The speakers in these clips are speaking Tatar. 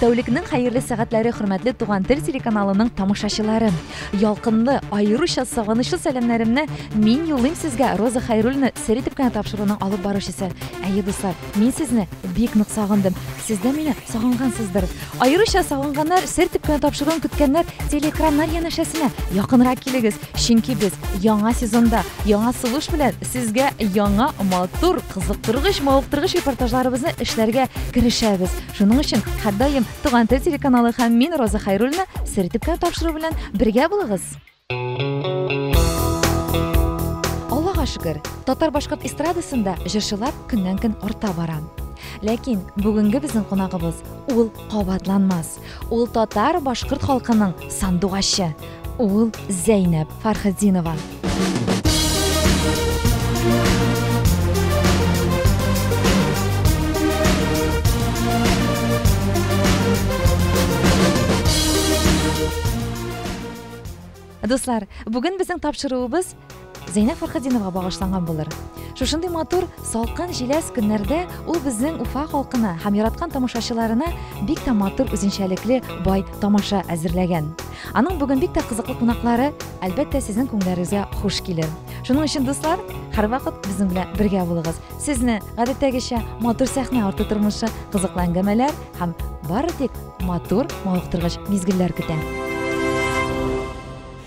Тәүлекнең хәерле сәгатьләре хөрмәтле Туган тел телеканалының тамашачылары. Ялкынлы, аеруча сагынычлы сәламнәремне мин юллыйм сезгә Роза Хәйруллина сер итеп кенә тапшыруның алып баручысы. Әйе, дуслар, мин сезне бик нык сагындым. Сез дә мине сагынгансыздыр. Аеруча сагынганнар, сер итеп кенә тапшыруын көткәннәр телеэкраннар янәшәсенә якынрак килегез, чөнки без яңа сезонда, яңа сулыш белән сезгә яңа матур, кызыктыргыч, мавыктыргыч репортажларыбызны эшләргә керешәбез. Шуның өчен һәрдаим Туган тел телеканалы һәм мин Роза Хайруллина сертификат тапшыру белән бергә булыгыз. Аллага шөкер, татар башкорт эстрадасында җырчылар көннән-көн арта бара. Ләкин бүгенге безнең кунагыбыз ул кабатланмас. Ул татар башкорт халкының сандугачы. Ул Зәйнәп Фархетдинова. Дуслар, бүген безнең тапшыруыбыз Зәйнәб Фәрхетдиновага багышланган булыр. Шушындый матур, салкын, җиләс көннәрдә ул безнең Уфа халкына һәм яраткан тамашачыларына бик тә матур үзенчәлекле бай тамаша әзерләгән. Аның бүген бик тә кызыклы кунаклары, әлбәттә, сезнең күңелләрегезгә хуш килер. Шуның өчен, дуслар, һәрвакыт безнең белән бергә булыгыз. Сезне, гадәттәгечә, матур сәхнә арты тормышы, кызыклы әңгәмәләр һәм бары тик матур, мавыктыргыч мизгелләр көтә.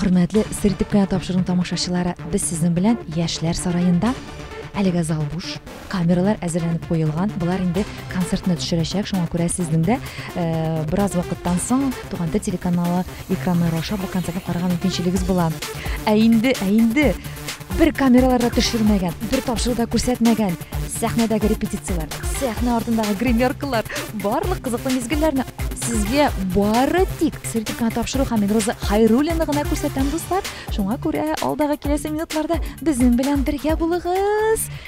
Хөрмәтле сер итеп кенә тапшырдым тамашачылары, без сезнең белән Яшьләр сараенда. Әлегә зал буш, камералар әзерләнеп куелган. Болар инде концертны төшерәчәк, шуңа күрә сезнең дә э, бераз вакыттан соң Туган тел телеканалы экраннары аша бу концертны карарга мөмкинчелегегез була. Ә инде, ә инде Бер камералар да төшермәгән, бер тапшыру да күрсәтмәгән. Сәхнәдәге репетицияләр, сәхнә артындагы гримеркалар, барлык кызыклы мизгелләрне сезгә бары тик сертификат тапшыру һәм Роза Хайруллина гына күрсәтәм, дуслар. Шуңа күрә алдагы киләсе минутларда безнең белән бергә булыгыз.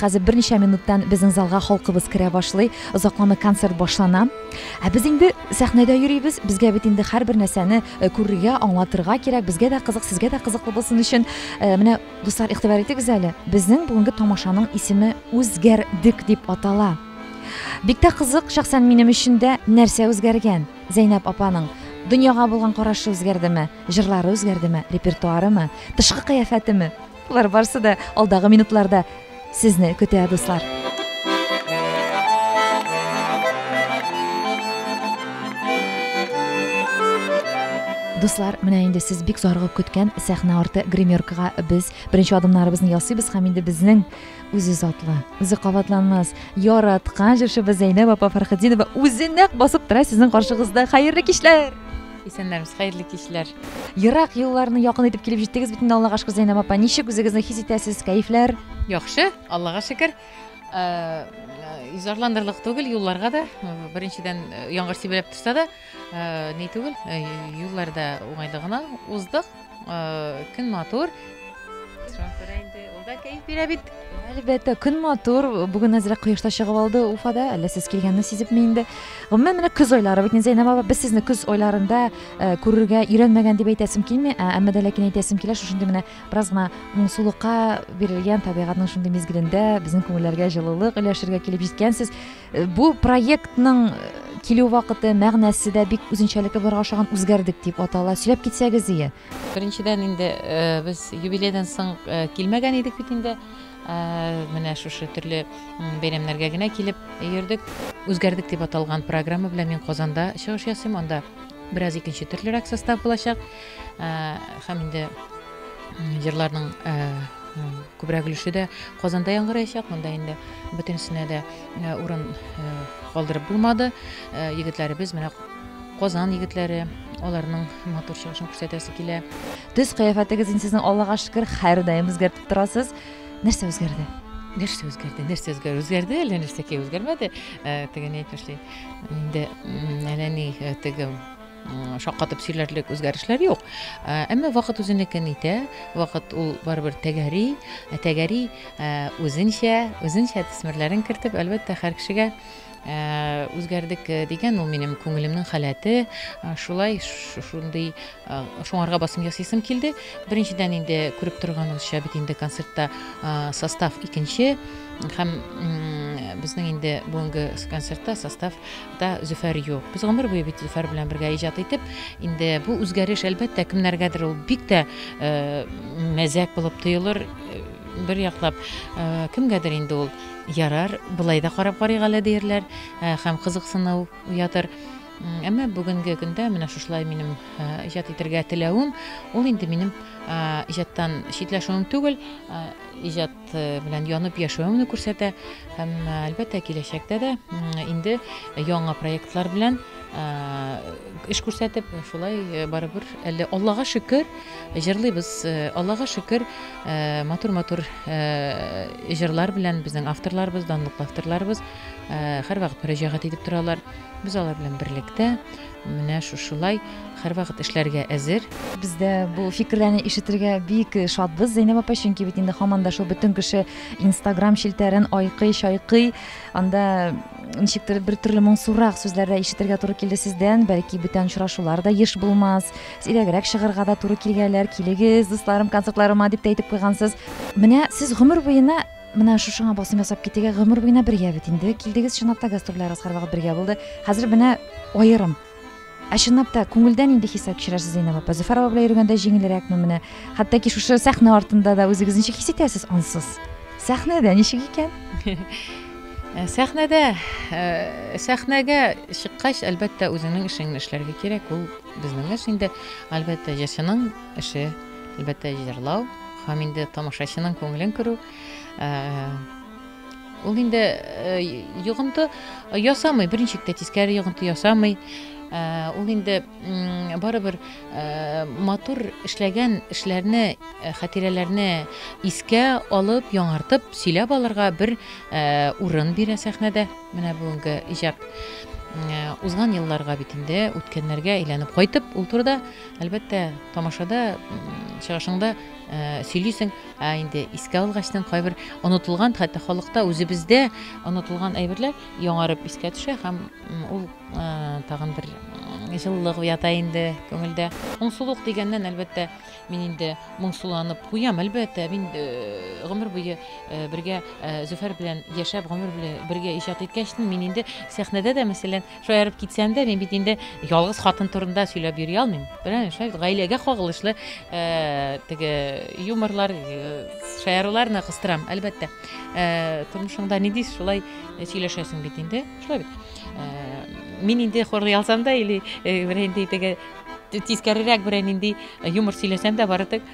Хәзер берничә минуттан безнең залга халкыбыз керә башлый, озакламый концерт башлана. Ә без инде сәхнәдә йөрибез, безгә бит инде һәрбер нәрсәне э, күрергә, аңлатырга кирәк, безгә дә кызык, сезгә дә кызыклы булсын өчен. Э, менә, дуслар, игътибар итегез әле, безнең бүгенге тамашаның исеме Үзгәрдек дип атала. Бик тә кызык, шәхсән минем өчен дә нәрсә үзгәргән? Зәйнәб апаның дөньяга булган карашы үзгәрдеме? Җырлары үзгәрдеме? Репертуарымы? Тышкы кыяфәтеме? Болар барсы да алдагы минутларда сезне көтә, дуслар. Дуслар, менә инде сез бик зарыгып көткән сәхнә арты гримеркага без беренче адымнарыбызны ясыйбыз һәм инде безнең үзе затлы, үзе кабатланмас, яраткан җырчыбыз Зәйнәб апа Фәрхетдинова үзе нәкъ басып тора сезнең каршыгызда. Хәерле кичләр! Исәннәрмез, хәерле кичләр. Ерак юлларны якын итеп килеп җиттегез бит инде Аллага шөкер Зәйнәб апа. Ничек үзегезне хис итәсез? Кәефләр? Яхшы, Аллага шөкер. Э, э, Зарландырлык түгел юлларга да. Э, беренчедән, яңгыр сибелеп торса да, ни түгел, юлларда уңайлы гына уздык. Көн матур. Ул да кәеф бирә бит. Әлбәттә, көн матур. Бүген әзрәк кояшта чыгып алды Уфада. Әллә сез килгәнне сизепме инде? Гомумән, менә көз айлары бит Зәйнәб апа, без сезне көз айларында э, күрергә өйрәнмәгән дип әйтәсем килми, ә әмма дә ләкин әйтәсем килә, шушындый менә бераз гына моңсулыкка бирелгән табигатьнең шундый мизгелендә безнең күңелләргә җылылык өләшергә килеп җиткәнсез. Бу проектның килү вакыты, мәгънәсе дә бик үзенчәлекле булырга охшаган үзгәрдек дип атала. Сөйләп китсәгез ие. Беренчедән инде э, без юбилейдан соң э, килмәгән идек бит инде. Э, менә шушы төрле бәйрәмнәргә генә килеп йөрдек. Үзгәрдек дип аталган программа белән мин Казанда чыгыш ясыйм. Анда бераз икенче төрлерәк состав булачак. һәм инде җырларның күбрәк өлеше дә Казанда яңгыраячак. Монда инде бөтенесенә дә урын калдырып булмады. Егетләребез менә Казан егетләре аларның матур чыгышын күрсәтәсе килә. Төс кыяфәтегез инде сезнең Аллага шөкер һәрдаим үзгәртеп торасыз. Нәрсә үзгәрде? Нәрсә үзгәрде? Нәрсә үзгәрде? Үзгәрде әллә нәрсә ки үзгәрмәде? Теге әйтмешли. Инде әллә ни теге шаккатып сөйләрлек үзгәрешләр юк. Ә, әмма вакыт үзенекен итә, вакыт ул барыбер тәгәри, ә тәгәри ә, үзенчә, үзенчә төсмерләрен кертеп, әлбәттә, һәр кешегә ә, үзгәрдек ә, дигән ул минем күңелемнең халәте, ә, шулай шундый ә, шуңарга басым ясыйсым килде. Беренчедән инде күреп торганыгызча бит инде концертта ә, состав икенче һәм безнең инде бүгенге концертта состав Хакта Зөфәр юк. Без гомер буе бит Зөфәр белән бергә иҗат итеп, инде бу үзгәреш, әлбәттә, кемнәргәдер ул бик тә э, мәзәк булып тоелыр, э, бер яклап э, кемгәдер инде ул ярар, былай да карап карыйк әле диярләр э, һәм кызыксыну уятыр. Әмма бүгенге көндә менә шушылай минем э, иҗат итергә теләвем, ул инде минем иҗаттан читләшүем түгел, иҗат белән янып яшәвеңне күрсәтә һәм әлбәттә киләчәктә дә инде яңа проектлар белән эш күрсәтеп шулай барыбер әле аллага шөкер җырлыйбыз аллага шөкер матур матур җырлар белән безнең авторларыбыз данлыклы авторларыбыз һәрвакыт мөрәҗәгать итеп торалар без алар белән берлектә Менә шушылай һәрвакыт эшләргә әзер. Без дә бу фикерләрне ишетергә бик шатбыз, Зәйнәб апа, чөнки бит инде һаман да шул бөтен кеше Инстаграм челтәрен айкый, чайкый. Анда ничектер бер төрле моңсурак сүзләр дә ишетергә туры килде сездән. Бәлки бүтән очрашулар да еш булмас. Сирәгрәк чыгарга да туры килгәләр. Килегез, дусларым, концертларыма дип тә әйтеп куйгансыз. Менә сез гомер буена Менә шушыңа басым ясап китегә гомер буена бергә бит инде. Килдегез чынлап та гастрольләрегез һәрвакыт бергә булды. Хәзер менә аерым. Ә чынлап та күңелдән инде хисап кичерәсез Зәйнәб апа. Зөфәр апа белән йөргәндә җиңелрәкме менә? Хәтта ки шушы сәхнә артында да үзегез ничек хис итәсез ансыз? Сәхнәдә ничек икән? Ә, сәхнәдә ә, сәхнәгә чыккач, әлбәттә, үзеңнең эшеңне эшләргә кирәк. Ул безнең эш инде, әлбәттә, җырчының эше. Әлбәттә, җырлау һәм инде тамашачының күңелен күрү. Ул инде йогынты ясамый, беренче тә тискәре йогынты ясамый. Ул инде барыбер матур эшләгән эшләрне, хатирәләрне искә алып, яңартып сөйләп алырга бер урын бирә сәхнәдә. Менә бүгенге иҗат узган елларга бит инде, үткәннәргә әйләнеп кайтып, ул турыда Әлбәттә, тамашада чыгышыңда сөйлисең, ә инде искә алгачтан кайбер онытылган, хәтта халыкта үзебездә онытылган әйберләр яңарып искә төшә һәм ул тагын бер җылылык уята инде күңелдә. Моңсулык дигәннән, әлбәттә, мин инде моңсуланып куям, әлбәттә, мин гомер буе бергә Зөфәр белән яшәп, гомер буе бергә иҗат иткәчтен, мин инде сәхнәдә дә, мәсәлән, Шаярып китсәм дә, мин бит инде ялгыз хатын турында сөйләп йөри алмыйм. Беләм, шулай бит гаиләгә кагылышлы э, теге юморлар, э, шаяруларны кыстырам, әлбәттә. Э, тормышыңда нинди шулай сөйләшәсең бит инде, шулай бит. Э, мин инде хорлый алсам да или э, берәй инде теге тискәрерәк берәй нинди юмор сөйләсәм дә бары тик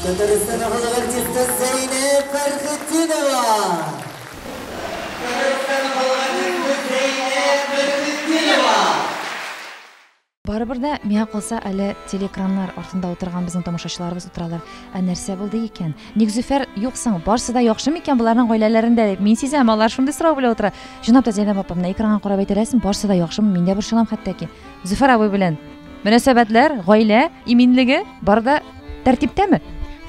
Татарстан халык артисты Зәйнәб Фәрхетдинова. Татарстан халык артисты Зәйнәб Фәрхетдинова. Барыбер дә миңа калса әле телеэкраннар артында утырган безнең тамашачыларыбыз утыралар. Ә нәрсә булды икән? Ник Зөфәр юк соң? Барсы да яхшы микән боларның гаиләләрендә дип мин сизәм, алар шундый сорау белә утыра. Чынлап та Зәйнәб апа, менә экранга карап әйтеләсең, барсы да яхшымы, мин дә борчылам хәтта ки. Зөфәр абый белән мөнәсәбәтләр, гаилә иминлеге бар да тәртиптәме?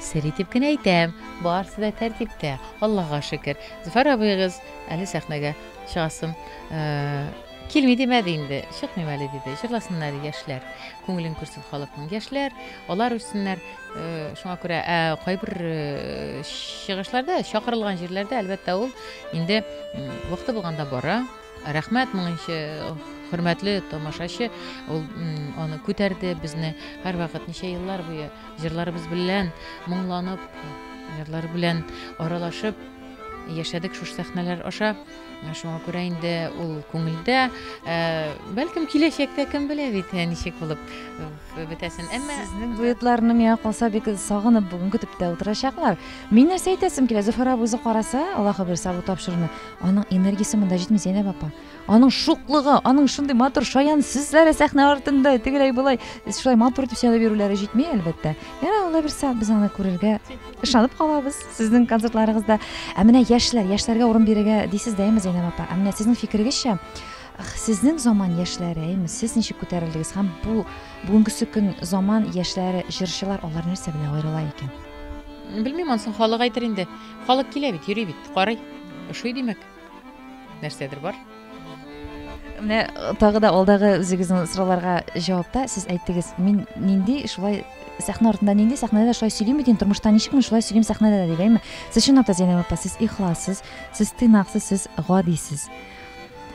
Сер итеп кенә әйтәм, барысы да тәртиптә. Аллага шөкер. Зөфәр абыегыз әле сәхнәгә чыгасын э, килми димәде инде, чыкмыйм әле диде. Җырласыннар яшьләр. Күңелен күрсен халыкның яшьләр, алар үссеннәр. Э, шуңа күрә ә кайбер э, чыгышларда, чакырылган җирләрдә әлбәттә ул инде вакыты булганда бара. Рәхмәт моңынчы хөрмәтле тамашачы, ул аны күтәрде, безне һәрвакыт ничә еллар буе җырларыбыз белән моңланып, җырлар белән аралашып яшәдек шушы сәхнәләр аша. Шуңа күрә инде ул күңелдә, бәлкем киләчәктә кем белә бит, ничек булып бетәсен. Әмма сезнең дуэтларны миңа калса бик сагынып бүген көтеп тә утырачаклар. Мин нәрсә әйтәсем килә, Зөфәр абый үзе караса, Аллаһы бирса бу тапшыруны, Аның энергиясе монда җитми, Зәйнәб апа. Аның шуклыгы, аның шундый матур шаян сүзләре сәхнә артында, тегеләй болай, шулай матур итеп сөйләп йөрүләре җитми, әлбәттә. Ярар, алла бирсә, без аны күрергә ышанып калабыз сезнең концертларыгызда. Ә менә яшьләр, яшьләргә урын бирергә дисез дә, әйме, Зәйнәб апа? Ә менә сезнең фикерегезчә, сезнең заман яшьләре, әйме, сез ничек күтәрелдегез һәм бу бүгенге көн заман яшьләре, җырчылар, алар нәрсә белән аерыла икән? Белмим, ансын халык әйтер инде. Халык килә бит, йөри бит, карый. Ошый димәк. Нәрсәдер бар. Менә э, тагы да алдагы үзегезнең сорауларга җавапта сез әйттегез, мин нинди шулай сәхнә артында нинди сәхнәдә шулай сөйлим бит инде тормышта ничек мин шулай сөйлим сәхнәдә дә дигәнме? Сез чынлап та Зәйнәб апа, сез ихлассыз, сез тыйнаксыз, сез гадисез.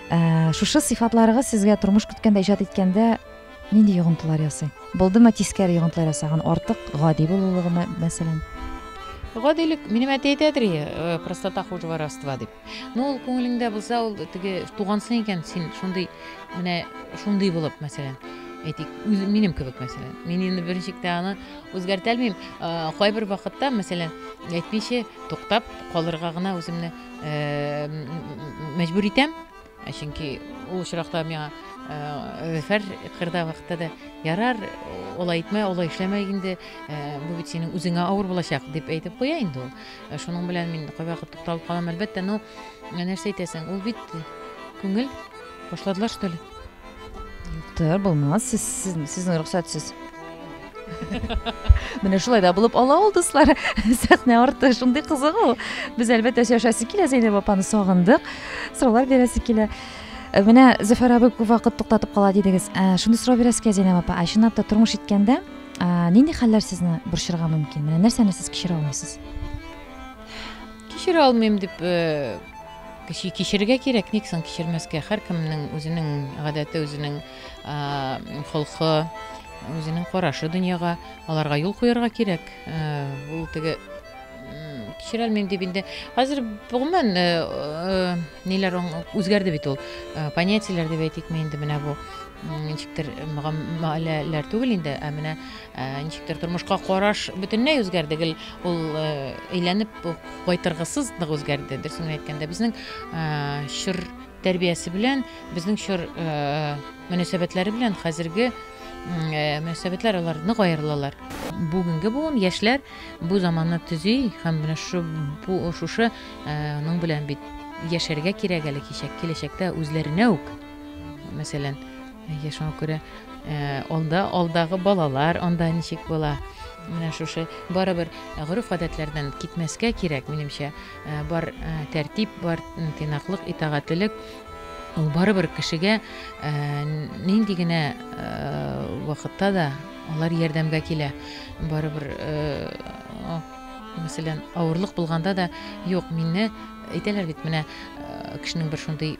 Ә, шушы сыйфатларыгыз сезгә тормыш көткәндә, иҗат иткәндә Нинди йогынтылар ясый? Булдымы тискәре йогынтылар ясаган артык гади булулыгымы, мәсәлән? Гадилек минем әти әйтәдер, э, простота хуже воровства дип. Ну, ул күңелеңдә булса, ул теге тугансың икән, син шундый менә шундый булып, мәсәлән, әйтик, үз минем кебек, мәсәлән. Мин инде беренчектә аны үзгәртә алмыйм. Э, кайбер вакытта, мәсәлән, әйтмичә, туктап калырга гына үземне э, мәҗбүр итәм. Ә чөнки ул очракта миңа Зөфәр кырда вакытта да ярар, олай итмә, олай эшләмә инде, бу бит синең үзеңә авыр булачак дип әйтеп куя инде ул. Шуның белән мин кайвакыт тукталып калам, әлбәттә, но нәрсә әйтәсең, ул бит күңел башладылар что ли? Юктыр, булмас. Сез, сез, сезнең рөхсәтсез. Менә шулай да булып ала ул дуслар. Сәхнә арты шундый кызык ул. Без әлбәттә сөйләшәсе килә Зәйнәб апаны сагындык. Сораулар бирәсе килә. Э, менә Зөфәр абый күп вакыт туктатып кала дидегез. Э, шуны сорау бирәсе килә Зәйнәб апа. Ә чынлап та тормыш иткәндә э, нинди хәлләр сезне борчырга мөмкин? Менә нәрсәне сез кичерә алмыйсыз? Кичерә алмыйм дип Кеше кичерергә кирәк, ник соң кичермәскә? Һәркемнең үзенең гадәте, үзенең холкы, үзенең карашы дөньяга, аларга юл куярга кирәк. Ул теге кичерәлмим дип инде. Хәзер гомумән ниләр үзгәрде бит ул. Понятиеләр дип әйтикме инде менә бу ничектер мөгалләләр түгел инде, ә менә Ә, ничектер тормышка караш бөтенләй үзгәрде гел ул ә, әйләнеп кайтыргысыз нык үзгәрде дөресен генә әйткәндә безнең ә, чор тәрбиясе белән безнең чор ә, мөнәсәбәтләре белән хәзерге ә, мөнәсәбәтләр алар нык аерылалар бүгенге буын яшьләр бу заманны төзи һәм менә шу бу шушы ә, ның белән бит яшәргә кирәк әле кичәк киләчәктә үзләренә үк мәсәлән Әйе, шуңа күрә э, алда алдагы балалар анда ничек була? Менә шушы барыбер гореф-гадәтләрдән китмәскә кирәк, минемчә. Э, бар э, тәртип, бар тыйнаклык, итагатьлелек ул барыбер кешегә нинди генә вакытта да алар ярдәмгә килә. Барыбер мәсәлән, авырлык булганда да, юк, мине әйтәләр бит, менә кешенең бер шундый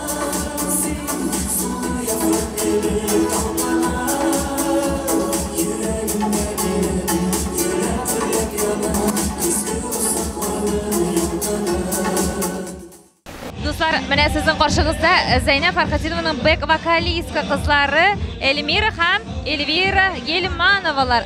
Дуслар, менә сезнең каршыгызда Зәйнә Фәрхәтинованың бэк-вокалистка кызлары Эльмира һәм Эльвира Гельмановалар.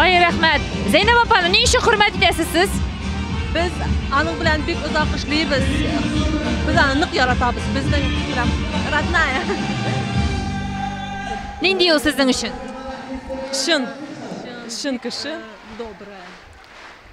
Ай, рәхмәт. Зәйнәб апаны ни өчен хөрмәт итәсез сез? Без аның белән бик озак эшлибез. Без аны нык яратабыз. Безнең прям родная. Нинди ул сезнең өчен? Чын. Чын кеше. Добрая.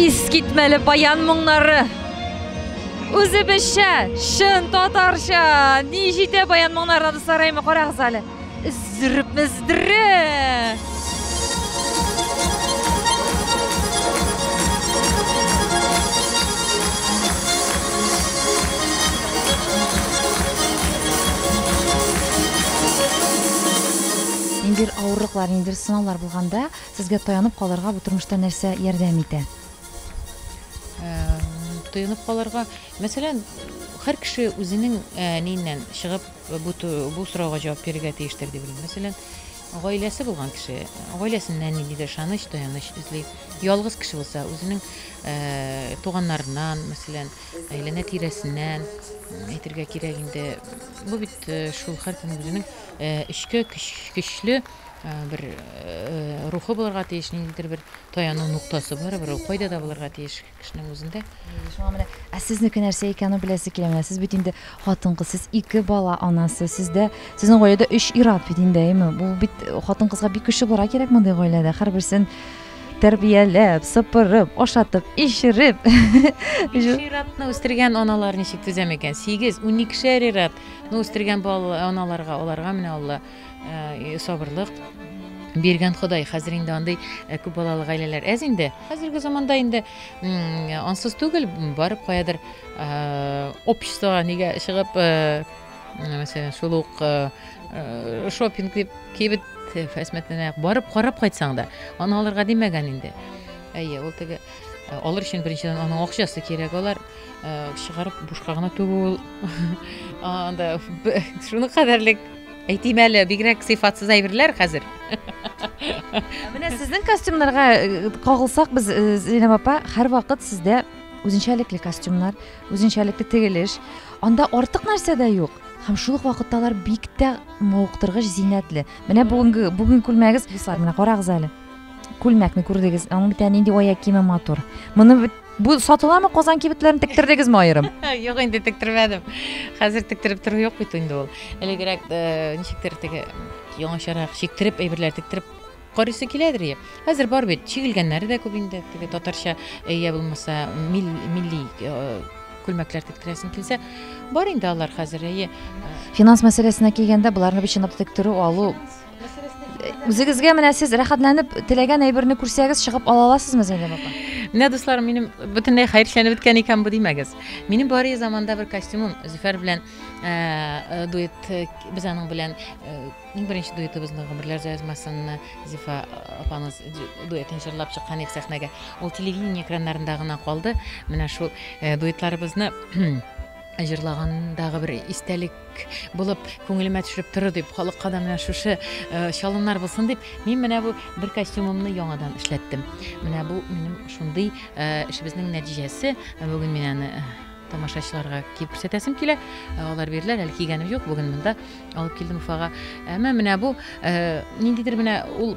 Искитмәле баян моңнары. Үзебезчә, чын татарча. Ни җитә баян моңнарына дуслар, әйме карагыз әле. Зрп, здрп. Ниндидер авырлыклар, ниндидер сынаулар булганда, Сезгә таянып калырга бу тормышта нәрсә ярдәм итә? Таянып калырга, мәсәлән, һәр кеше үзенең әниеннән чыгып бу бу сорауга җавап бирергә тиештер дип уйлыйм. Мәсәлән, гаиләсе булган кеше, гаиләсеннән ниндидер ышаныч, таяныч эзли. Ялгыз кеше булса, үзенең туганнарыннан, мәсәлән, әйләнә тирәсеннән әйтергә кирәк инде. Бу бит шул һәркем үзенең эчке көч, көчле Бер рухы булырга тиеш, ниндидер бер таяну нуктасы барыбер ул кайда да булырга тиеш кешенең үзендә. Шуңа менә, ә сезнеке нәрсә икәнен беләсе килә. Менә сез бит инде хатын-кыз, сез ике бала анасы, сездә, сезнең гаиләдә өч ир-ат бит инде, әйеме? Бу бит хатын-кызга бик көчле булырга кирәк мондый гаиләдә. Һәрберсен тәрбияләп, сыпырып, ашатып, эчереп. Биш ир-атны үстергән аналар ничек түзәм икән? Сигез, уникешәр ир-ат, ну үстергән балалар, аналарга, аларга менә Алла Э, сабырлык биргән ходай хәзер инде андый э, күп балалы гаиләләр әз инде хәзерге заманда инде ансыз түгел барып каядыр э, обществоға нигә чыгып мәсәлән шул ук шопинг дип кибет фәсмәтенә барып карап кайтсаң да аны алырга димәгән инде әйе ул теге алыр өчен беренчедән аның акчасы кирәк алар Э, чыгарып бушка гына түгү ул анда шуны кадәрлек әйтим әле бигрәк сыйфатсыз әйберләр хәзер менә сезнең костюмнарга э, кагылсак без э, зинәб апа һәрвакыт сездә үзенчәлекле костюмнар үзенчәлекле тегелеш анда артык нәрсә дә юк һәм шул ук вакытта алар бик тә мавыктыргыч зиннәтле менә бүгенге бүгенге күлмәгегез менә карагыз әле күлмәкне күрдегез аның бит нинди аяк киеме матур моны бит Бу сатыламы Казан кибетләрен тектердегезме аерым? Юк инде тектермәдем. Хәзер тектереп тору юк бит инде ул. Элегрәк э, ничектер теге яңачарак чиктереп әйберләр тектереп карыйсы киләдер я. Хәзер бар бит, чигелгәннәре дә күп инде. Теге татарча э, я булмаса милли э, күлмәкләр тектерәсең килсә, бар инде алар хәзер. Финанс мәсьәләсенә килгәндә, боларны бит чынлап тектерү, алу Үзегезгә менә сез рәхәтләнеп теләгән әйберне күрсәгез, чыгып ала аласызмы Зәйнәб апа? Менә дусларым, минем бөтенләй хәерчәнеп беткән икән бу димәгез. Минем бары заманда бер костюмым Зөфәр белән э, э, дуэт э, без аның белән иң беренче дуэтыбызны гомерләр язмасынны Зифа апамыз дуэтын җырлап чыккан ик сәхнәгә. Ул телевидение экраннарында гына калды. Менә шул дуэтларыбызны җырлагандагы бер истәлек Булып күңелемә төшеп тору дип, халыкка да менә шушы э, чалымнар булсын дип, мин менә бу бер костюмымны яңадан эшләттем. Менә бу минем шундый э, эшебезнең нәтиҗәсе. Бүген мин аны э, тамашачыларга киеп күрсәтәсем килә. Э, алар бирделәр, әле кигәнем юк. Бүген монда алып килдем Уфага. Әмма менә бу э, ниндидер менә ул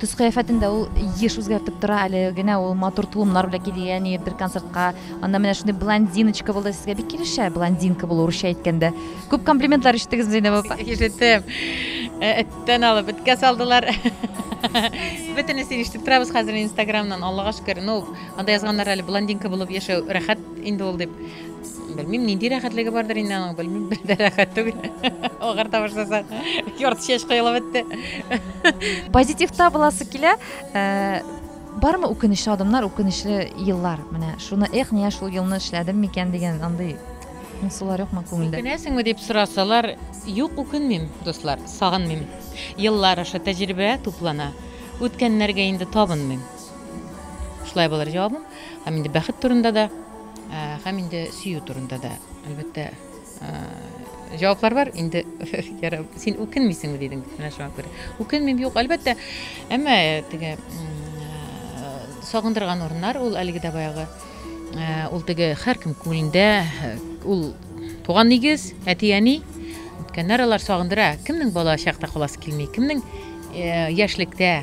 Төс-кыяфәтен дә ул еш үзгәртеп тора. Әле генә ул матур тулымнар белән килгән иде бер концертка. Анда менә шундый блондиночка булды. Сезгә бик килешә блондинка булу урысча әйткәндә. Күп комплиментлар ишеттегезме, Зәйнәб апа? Ишеттем. Э, эттән алып эткә салдылар. Бөтенесен ишетеп торабыз хәзер Инстаграмнан, Аллага шөкер. Ну, анда язганнар әле блондинка булып яшәү рәхәт инде ул дип. Белмим, нинди рәхәтлеге бардыр инде аның, белмим, бер дә рәхәт түгел. Агар табышласа, ярты чәч кыйлып бетте. Позитивта буласы килә. Э, бармы үкенечле адымнар, үкенечле еллар? Менә шуны, эх, нигә шул елны эшләдем микән дигән андый Сулар юкмы күңелдә? Үкенәсеңме дип сорасалар, юк, үкенмим, дуслар, сагынмыйм. Еллар аша тәҗрибә туплана. Үткәннәргә инде табынмыйм. Шулай булыр җавабым. Һәм инде бәхет турында да Һәм инде сөю турында да, әлбәттә, җаваплар бар. Инде ярар, син үкенмисеңме дидең, менә шуңа күрә. Үкенмим, юк, әлбәттә. Әмма теге сагындырган урыннар ул әлеге дә баягы ул теге һәркем күңелендә ул туган нигез, әти-әни, үткәннәр алар сагындыра. Кемнең бала чакта каласы килми, кемнең яшьлектә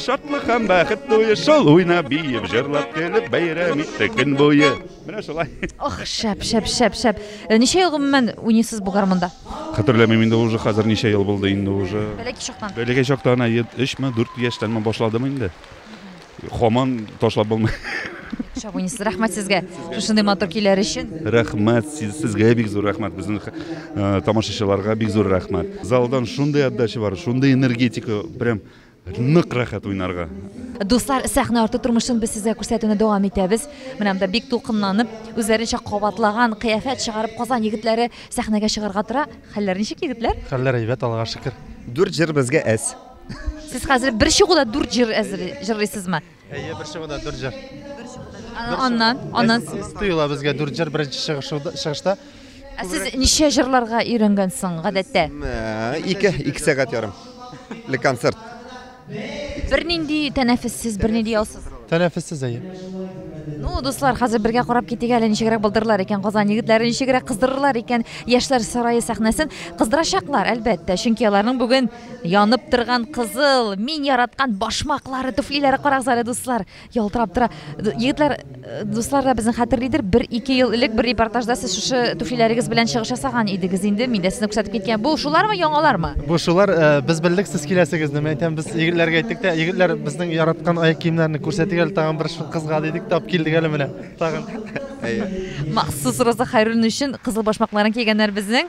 шатлык һәм бәхет туе шул уйнап биеп җырлап көлеп бәйрәм иттек көн буе менә шулай ох шәп шәп шәп шәп э, ничә ел гомумән уйныйсыз бу гармунда хәтерләмим инде уже хәзер ничә ел булды инде уже бәләкәй чактан бәләкәй чактан өчме дүрт яшьтәнме башладым инде Хаман ташлап булмый. Шабунис, рәхмәт сезгә шушындый матур көйләр өчен. Рәхмәт сезгә бик зур рәхмәт безнең э, тамашачыларга бик зур рәхмәт. Залдан шундый отдача бар, шундый энергетика, прям нык рәхәт уйнарга. Дуслар, сәхнә арты тормышын без сезгә күрсәтүне дәвам итәбез. Менә монда бик тулкынланып, үзләренчә кабатлаган кыяфәт чыгарып Казан егетләре сәхнәгә чыгарга тора. Хәлләр ничек, егетләр? Хәлләр әйбәт, Аллага шөкер. Дүрт җыр безгә әз. Сез хәзер бер чыгуда дүрт җыр әзер җырлыйсызмы? Әйе, бер чыгуда дүрт җыр. Аннан, аннан сез тоела безгә дүрт җыр беренче чыгышта. Ә сез ничә җырларга өйрәнгәнсең гадәттә? Ике, ике сәгать ярым. Ле концерт. Бернинди тәнәфессез, бернинди ялсыз. Тәнәфессез әйе. Ну, дуслар, хәзер бергә карап китик әле ничегрәк булдырылар икән Казан егетләре, ничегрәк кыздырырлар икән Яшьләр сарае сәхнәсен. Кыздырачаклар, әлбәттә, чөнки аларның бүген Янып торган кызыл, мин яраткан башмаклары, туфлиләре карагыз әле, дуслар, ялтырап тора. Егетләр, э, дуслар да безне хәтерлидер, бер ике ел элек бер репортажда сез шушы туфлиләрегез белән чыгыш ясаган идегез инде, мин дә сезне күрсәтеп киткән. Бу шулармы, яңалармы? Бу шулар, э, без белдек сез киләсегезне, мин әйтәм, без егетләргә әйттек тә, егетләр безнең яраткан аяк киемнәрне күрсәтик әле тагын бер кызга дидек, тап килдек әле менә. Тагын. Махсус Роза Хайруллина өчен кызыл башмакларын кигәннәр безнең.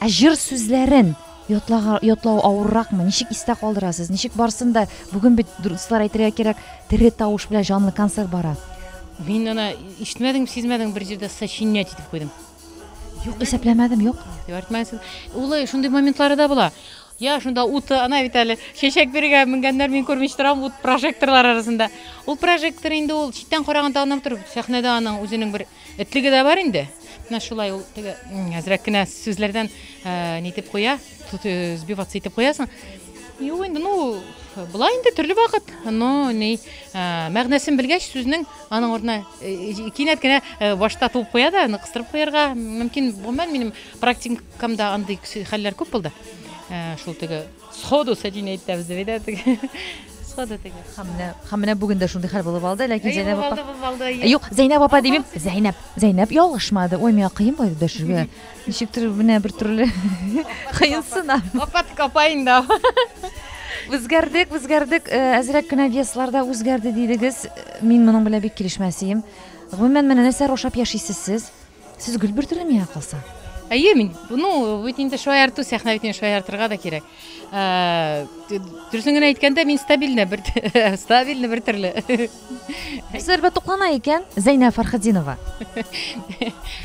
Ә җыр сүзләрен ятлага, ятлау авырракмы? Ничек истә калдырасыз? Ничек барсын да бүген бит дуслар әйтергә кирәк, тере тавыш белән җанлы концерт бара. Мин ана ишетмәдем, сизмәдем бер җирдә сочинять итеп куйдым. Юк, исәпләмәдем, юк. Юк, Улы шундый моментлары да була. Я шунда уты, ана бит әле чәчәк биргә менгәннәр, мин күрмичә торам ут прожекторлар арасында. Ул прожектор инде ул читтән караганда гына тор, сәхнәдә аның үзенең бер Этлеге дә бар инде. Менә шулай ул теге әзрәк кенә сүзләрдән нитеп куя, сбиваться итеп куясың. Юк инде, ну, була инде төрле вакыт. Но ни, мәгънәсен белгәч, сүзнең аның урынына кинәт кенә башта туып куя да, аны кыстырып куярга мөмкин. Гомумән, минем практикамда андый хәлләр күп булды. Шул теге Сходу сәтине әйтәбез дип әйтә теге. Сходу теге. Һәм менә, һәм менә бүген дә шундый хәл булып алды, ләкин Зәйнәп апа. Алды, алды. Юк, Зәйнәп апа димим. Зәйнәп, Зәйнәп ялгышмады. Ой, миңа кыен булды дәшергә. Ничектер менә бер төрле кыенсына. Апа тик апа инде. Үзгәрдек, үзгәрдек. Әзрәк кенә весларда үзгәрде дидегез. Мин моның белән бик килешмәсем. Гомумән, менә нәрсә рушап яшисез сез? Сез гөл бөртеле миңа калса. Әйе, мин, ну, бит инде шаярту, сәхнә бит инде шаяртырга да кирәк. Ә, Дөресен генә әйткәндә, мин стабильный бер стабильный бер төрле. Нәрсәләр бә туклана икән? Зәйнә Фархадинова.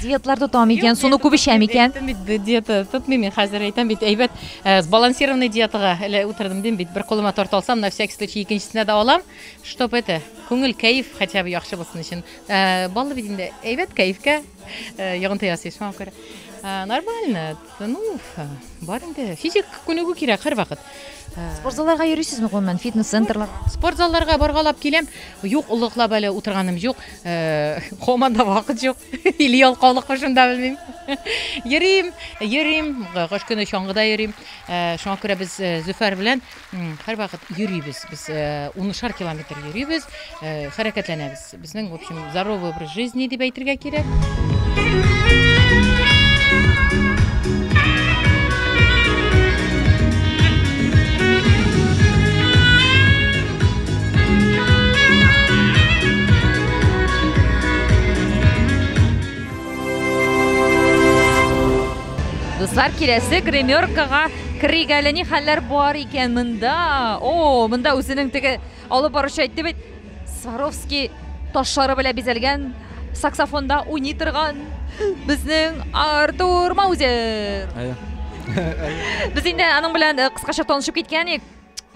Диетлар тотам икән, суны күп эчәм икән. Диета тотмыйм мин хәзер әйтәм бит, әйбәт э, сбалансированный диетага әле утырдым дим бит. Бер кулыма торт алсам, на всякий случай икенчесенә дә алам, чтобы это күңел кәеф хотя бы яхшы булсын өчен. Ә, баллы бит инде. Әйбәт кәефкә ә, йогынты ясый, шуңа күрә. Ә, нормально. Ну, бар инде. Физик күнегү кирәк һәрвакыт. Спорт залларга йөрисезме гомумән? Фитнес-центрлар. Спорт залларга баргалап киләм. Юк, олыклап әле утырганым юк. Ә, Команда вакыт юк. Или ялкаулыкмы шунда белмим. Йөрим, йөрим. Кыш көне чаңгыда йөрим. Ә, Шуңа күрә без э, Зөфәр белән Һәрвакыт йөрибез. Без унышар километр йөрибез, хәрәкәтләнәбез. Безнең, в общем, здоровый образ жизни дип әйтергә кирәк. Дуслар, киләсе гримеркага Керик әле, ни хәлләр бар икән монда? О, монда үзенең теге алып баручы әйтте бит, Сваровский ташлары белән бизәлгән саксофонда уйный торган безнең Артур Маузер. Без инде аның белән э, кыскача танышып киткән идек.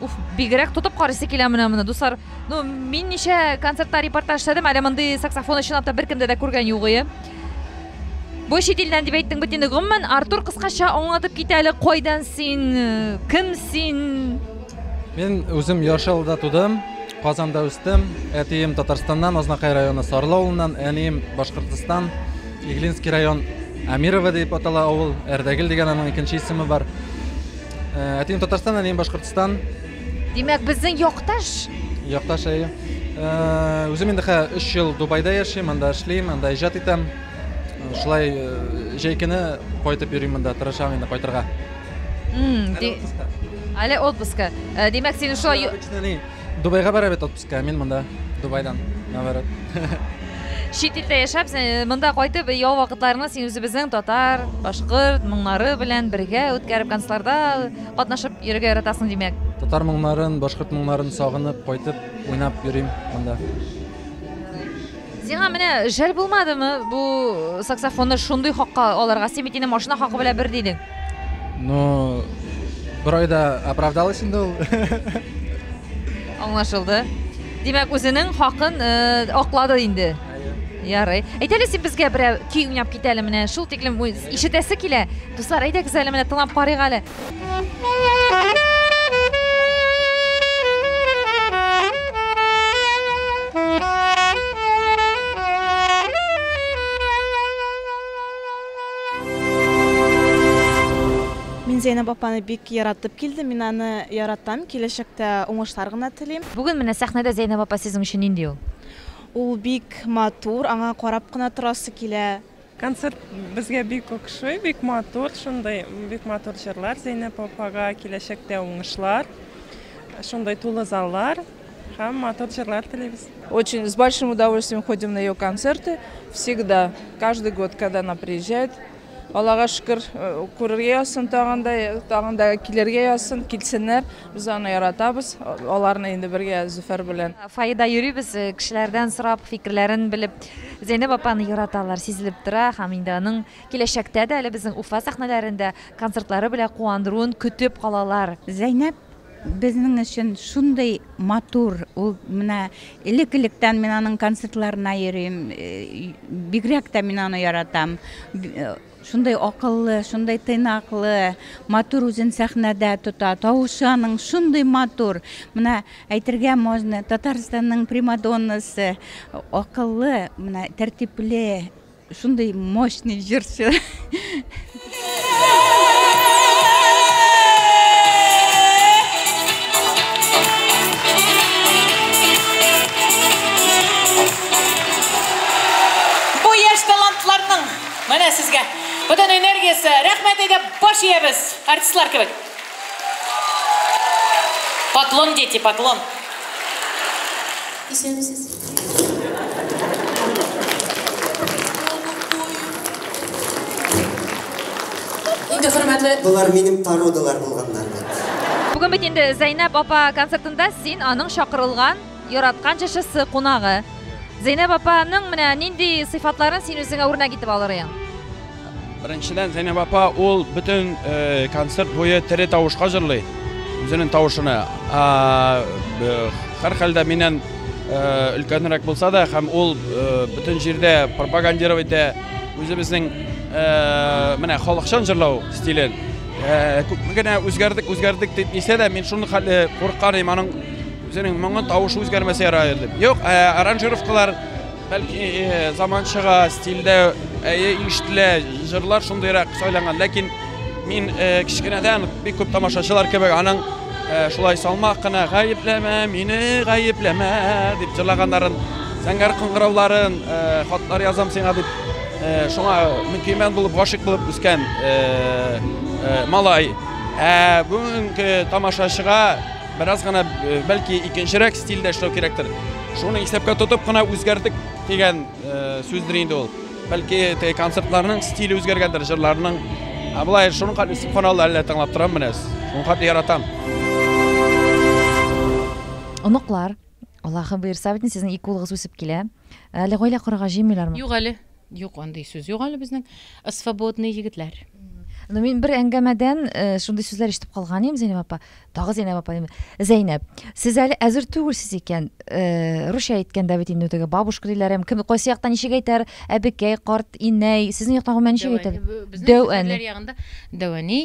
Уф, бигрәк тотып карыйсы килә менә моны, дуслар. Ну, мин ничә концертта репортаж эшләдем, әле мондый саксофон чынлап та беркемдә дә күргән юк ие. Бу чит илдән дип әйттең бит инде. Гомумән, Артур кыскача аңлатып кит әле, кайдан син, кем син? Мин үзем Яшелда тудым, Казанда үстем. Әтием Татарстаннан, Азнакай районы Сарлы авылыннан, әнием Башкортстан, Иглинский район Амирово дип атала авыл, Әрдәгел дигән аның икенче исеме бар. Э, әтием Татарстан, әнием Башкортстан. Димәк, безнең якташ? Якташ әйе. Э, үзем инде хә 3 ел Дубайда яшим, анда эшлим, анда иҗат итәм. Э, шулай җәй көне кайтып йөрим монда, тырышам инде кайтырга. Әле отпуска. Димәк, син шулай Дубайга бара бит Мин монда Дубайдан, наоборот. Чит илдә яшәп, сен- монда кайтып, ял вакытларны син үзебезнең татар, башкорт моңнары белән бергә үткәреп, концларда катнашып йөрергә яратасың, димәк. Татар моңнарын, башкорт моңнарын сагынып, кайтып, уйнап йөрим монда. Сиңа менә жәл булмадымы бу саксофонны шундый хакка алырга? Син бит инде машина хакы белән бер дидең. Ну, бер айда оправдалась инде ул. Аңлашылды. Димәк, үзенең хакын э, аклады инде. Ярый. Әйтәле син безгә берәр көй уйнап кит әле менә. Шул тиклем ишетәсе килә. Дуслар, әйдәгез әле менә тыңлап карыйк әле. Зәйнәб апаны бик яратып килдем. Мин аны яратам. Киләчәктә уңышлар гына телим. Бүген менә сәхнәдә Зәйнәб апа сезнең өчен нинди ул? Ул бик матур, аңа карап кына торасы килә. Концерт безгә бик охшый, бик матур, шундый бик матур җырлар Зәйнәп апага киләчәктә уңышлар, шундый тулы заллар һәм матур җырлар телибез. Очень с большим удовольствием ходим на ее концерты всегда, каждый год, когда она приезжает. Аллага шөкер, э, күрергә язсын тагын да, э, тагын да килергә язсын, килсеннәр. Без аны яратабыз, аларны инде бергә Зөфәр белән. Фаида йөрибез, э, кешеләрдән сорап, фикерләрен белеп, Зәйнәб апаны яраталар, сизелеп тора һәм инде аның киләчәктә дә әле безнең Уфа сәхнәләрендә концертлары белән куандыруын көтеп калалар. Зәйнәб безнең өчен шундый матур, ул менә элек-электән мин аның концертларына йөрим, бигрәк тә мин аны яратам. Шундый акыллы, шундый тыйнаклы, матур үзен сәхнәдә тота. Тавышы аның шундый матур. Менә әйтергә можно, Татарстанның примадоннасы, акыллы, менә тәртипле, шундый мощный җырчы. Менә сезгә бөтен энергиясе. Рәхмәт әйдәп баш иябез, артистлар кебек. Поклон, дети, поклон. Исәнмесез. Инде хөрмәтле. Болар минем породалар булганнар. Бүген бит инде Зәйнәп апа концертында син аның чакырылган Яраткан чшысы, кунагы. Зәйнәб апа ның менә нинди сыйфатларын син үзеңә үрнәк итеп алырыең? Беренчедән, Зәйнәб апа ул бөтен э, концерт буе тере тавышка җырлый. Үзенең тавышына. Хәр хәлдә миннән э, өлкәнрәк булса да, һәм ул э, бөтен җирдә пропагандировать итә үзебезнең менә халыкчан җырлау стилен. Күпме генә үзгәрдек, үзгәрдек дип дисә дә, мин шуны хәле куркарым аның Үзенең моңын тавышы үзгәрмәсә ярар иде. Юк, э, аранжировкалар бәлки э, заманчага стильдә әйе ишетелә, җырлар шундыйрак сайланган, ләкин мин э, кечкенәдән бик күп тамашачылар кебек аның э, шулай салмак кына гаепләмә мине, гаепләмә дип җырлаганнарын, зәңгәр кыңгырауларын, э, хатлар язам сиңа дип э, шуңа мөкимән булып гашыйк булып үскән э, э, малай. Ә бүгенге тамашачыга Бераз гына бәлки икенчерәк стильдә эшләү кирәктер. Шуны исәпкә тотып кына үзгәрдек дигән сүздер инде ул. Бәлки теге концертларның стиле үзгәргәндер, җырларның. Ә болай шуның хәтле үсеп кана әле тыңлап торам менә. Шуның хәтле яратам. Оныклар, Аллаһы буйырса бит, сезнең ике улыгыз үсеп килә. Әле гаилә корырга җыенмыйлармы? Юк әле. Юк, андый сүз юк әле безнең. Свободный егетләр. Ну, мин бер әңгәмәдән э, шундый сүзләр ишетеп калган идем, Зәйнәп апа. Тагы Зәйнәп апа. Зәйнәп, сез әле әзер түгелсез икән. Э, русча әйткәндә бит инде теге бабушка диләр һәм кем кайсы яктан ничек әйтәр? Әбекәй, карт, инәй. Сезнең яктан гомумән ничек әйтәләр? Дәү әни. Дәү әни.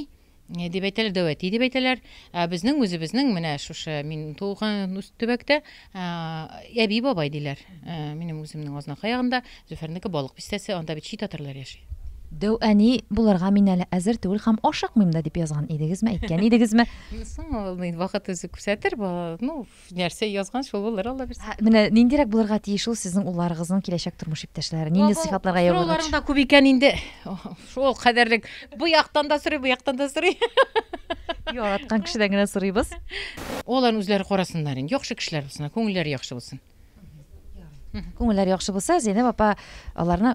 Не дип әйтәләр, дәүәти дип әйтәләр. Ә безнең үзебезнең менә шушы мин туган үс төбәктә әби бабай диләр. Минем үземнең Азнакай ягында, Зөфәрнеке Балык бистәсе, анда бит чи татарлар яши. Дәү әни булырга мин әле әзер түгел һәм ашыкмыйм да дип язган идегезме, әйткән идегезме? Соң ул мин вакыт үзе күрсәтер, ну, нәрсә язган шул булыр алла бирса менә ниндирәк булырга тиеш ул сезнең улларыгызның киләчәк тормыш иптәшләре нинди сыйфатларга ия булырга тиеш да күп икән инде шул кадәрлек бу яктан да сорый бу яктан да сорый яраткан кешедән генә сорыйбыз алар үзләре карасыннар инде яхшы кешеләр булсыннар күңелләре яхшы булсын күңелләре яхшы булса зәйнәп апа аларны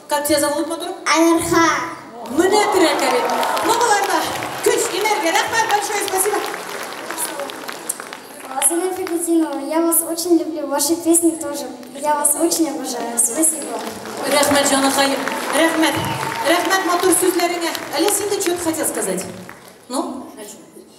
Как тебя зовут, матур? Айнарха. Менә терәкә бит. Ну, болар да көч, энергия. Рәхмәт, большое спасибо. Азина Фигутинова, я вас очень люблю, ваши песни тоже. Я вас очень обожаю. Спасибо. Рәхмәт, җаныкаем. Рәхмәт. Рәхмәт матур сүзләреңә. Әле син дә что-то хотел сказать? Ну?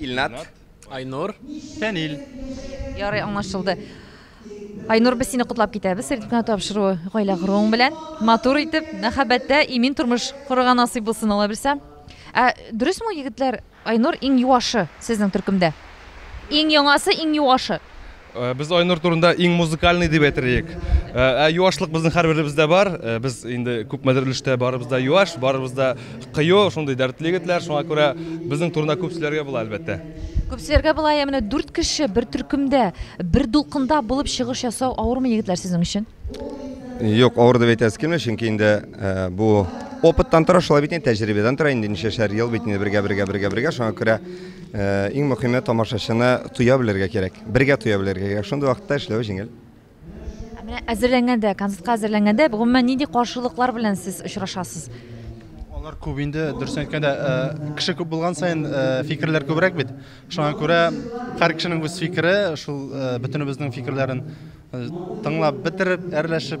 Илнат. Айнур. Фәнил. Ярый, аңлашылды. Айнур, без сине котлап китәбез сертификат тапшыру гаилә коруың белән. Матур итеп, мәхәббәттә имин тормыш корырга насыйп булсын, алла бирсә. Ә дөресме ул, егетләр, Айнур иң юашы сезнең төркемдә? Иң яңасы, иң юашы. Э, без айнур турында иң музыкальный дип әйтерлек э, ә юашлык безнең һәрберебездә бар э, без инде күпмедер өлештә барыбыз да юаш барыбыз да кыю шундый дәртле егетләр шуңа күрә безнең турында күп сөйләргә була әлбәттә күп сөйләргә була ә менә дүрт кеше бер төркемдә бер дулкында булып чыгыш ясау авырмы егетләр сезнең өчен юк авыр дип әйтәсе килми чөнки инде бу опыттан тора шулай бит инде тәҗрибәдән тора инде ничәшәр ел бит инде бергә бергә бергә бергә шуңа күрә Иң мөхиме тамашачыны тоя белергә кирәк. Бергә тоя белергә кирәк. Шундый вакытта эшләү җиңел. Менә әзерләнгәндә, концертка әзерләнгәндә, гомумән нинди каршылыклар белән сез очрашасыз? Алар күп инде, дөрес әйткәндә, кеше күп булган саен фикерләр күбрәк бит. Шуңа күрә һәр кешенең үз фикере, шул бөтенебезнең фикерләрен тыңлап бетереп, әрләшеп,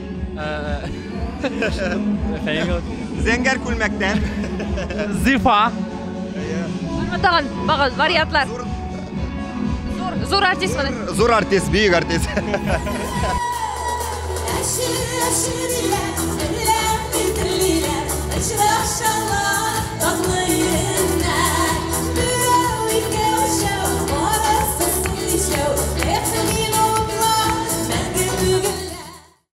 Зәңгәр күлмәктән. Зифа. Тагын багыз вариантлар. Зур, зур артист менә. Зур артист, бөек артист.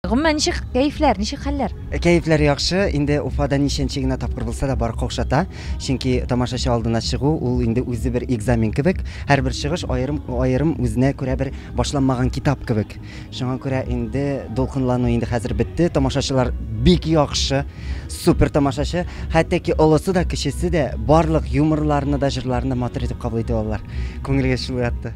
Гомумән, ничек кәефләр, ничек хәлләр? Кәефләр яхшы. Инде Уфада ничәнче генә тапкыр булса да, бар каушата. Чөнки тамашачы алдына чыгу, ул инде үзе бер экзамен кебек. Һәрбер чыгыш аерым, аерым үзенә күрә бер башланмаган китап кебек. Шуңа күрә инде дулкынлану инде хәзер бетте. Тамашачылар бик яхшы, супер тамашачы. Хәтта ки олысы да, кечесе дә барлык юморларны да, җырларны матур итеп кабул итеп алдылар. Күңелгә шул ятты.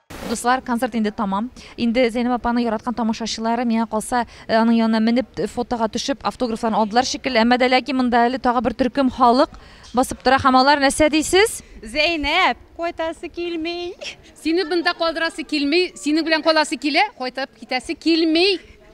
Дуслар, концерт инде тәмам. Инде Зәйнәб апаның яраткан тамашачылары, миңа калса, аның янына менеп, фотога төшеп, автографларын алдылар шикелле. Әмма дә ләкин монда әле тагы бер төркем халык басып тора һәм алар нәрсә дисез? Зәйнәб, кайтасы килми! Сине бында калдырасы килми, синең белән каласы килә, кайтып китәсе килми!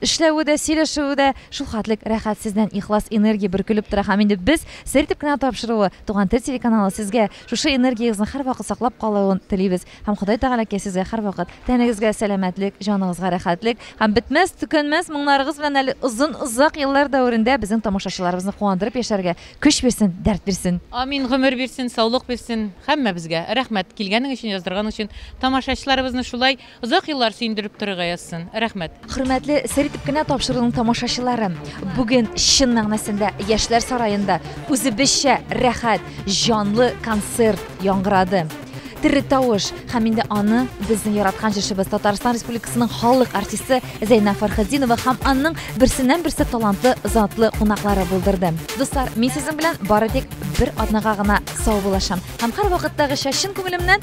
Эшләве дә, сөйләшүе дә шулхәтлек рәхәт, сездән ихлас энергия бөркелеп тора һәм инде без сер итеп кенә тапшыруы, Туган тел телеканалы сезгә шушы энергиягезне һәрвакыт саклап калуын телибез һәм Ходай Тәгаләкәй сезгә һәрвакыт тәнегезгә сәламәтлек, җаныгызга рәхәтлек һәм бетмәс, төкәнмәс моңнарыгыз белән әле озын озак еллар дәверендә безнең тамашачыларыбызны куандырып яшәргә көч бирсен, дәрт бирсен. Амин, гомер бирсен, саулык бирсен һәммәбезгә. Рәхмәт, килгәнең өчен, яздырганың өчен. Тамашачыларыбызны шулай. Озак еллар сөендереп торырга язсын. Рәхмәт. Хөрмәтле Сер итеп кенә тапшыруның тамашачылары! Бүген чын мәгънәсендә Яшьләр сараенда үзебезчә рәхәт, җанлы концерт яңгырады. Тере тавыш! Һәм инде аны безнең яраткан җырчыбыз, Татарстан Республикасының халык артисты Зәйнәб Фәрхетдинова һәм анның берсеннән-берсе талантлы затлы кунаклары булдырды. Дуслар, мин сезнең белән бары тик бер атнага гына саубуллашам һәм һәрвакыттагыча чын күңелемнән